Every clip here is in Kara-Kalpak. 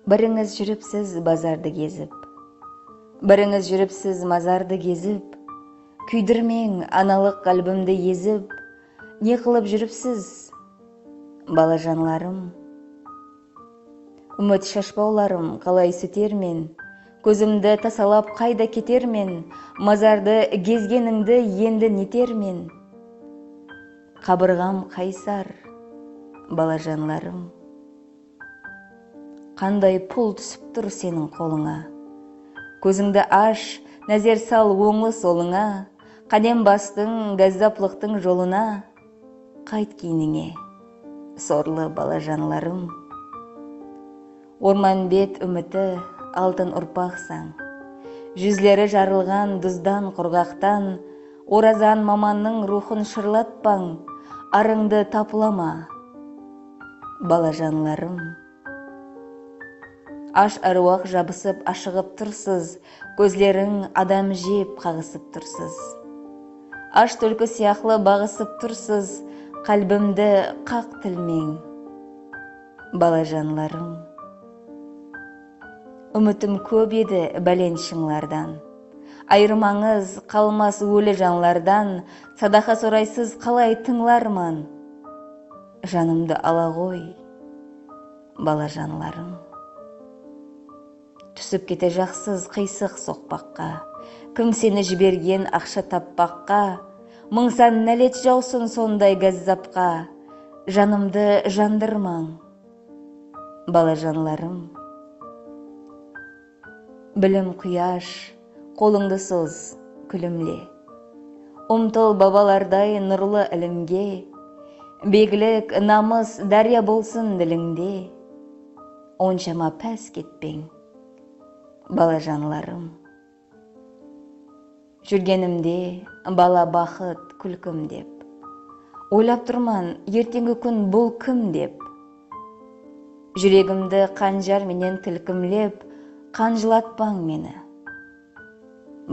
Birińiz júripsiz bazardı gezip Birińiz júripsiz mazardı gezip Kúydirmeń analıq qálbimdi ezip Ne qılıp júripsiz, balajanlarım? Úmit shashpawlarım qalay sútermen, Kózimdi tasalap qayda ketermen, Mazardı gezgenińdi endi netermen, Qabırǵam qaysar, balajanlarım. Qanday pul túsip tur seniń qolıńa, Kózińdi ash, názer sal ońlı-solıńa, Qádem bastıń gázzaplıqtıń jolına, Qayt keynińe, sorlı balajanlarım. Ormanbet úmiti, altın urpaqsań. Júzleri jarılǵan duzdan qurǵaqtan Orazan mamannıń ruwxın shırlatpań, arıńdı tapılama, balajanlarım. Ash áruwaq jabısıp ashıǵıp tursız, Kózleriń adam jep qaǵısıp tursız. Ash túlki sıyaqlı baǵısıp tursız, Qálbimdi qaq tilmeń, balajanlarım. Úmitim kóp edi bálent shıńlardan, Ayırmańız qalmas óli janlardan, Sadaqa soraysız qalay tıńlarman? Janımdı ala ǵoy, balajanlarım. Túsip kete jaqsız qıysıq soqpaqqa, Kim seni jibergen aqsha tappaqqa, Mıń san nálet jawsın sonday gázzapqa, Janımdı jandırmań, balajanlarım. Bilim quyash, qolıńdı soz, kúlimle. Umtıl babalarday nurlı ilimge, Beglik, namıs dárya bolsın dilińde. Onshama pás ketpeń, balajanlarım. Júrgenimde bala baxıt kúlkim dep. Oylap turman erteńgi kún bul kim dep. Júregimdi qanjar menen tilkimlep qan jılatpań meni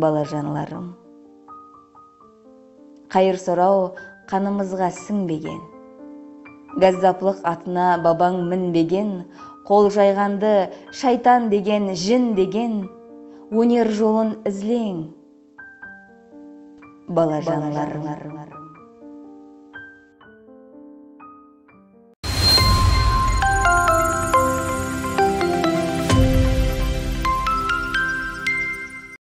balajanlarım. Qayır soraw qanımızǵa sińbegen. Gázzaplıq atına babań minbegen, Qol jayǵandı shaytan degen, jin degen, Óner jolın izleń, balajanlarım.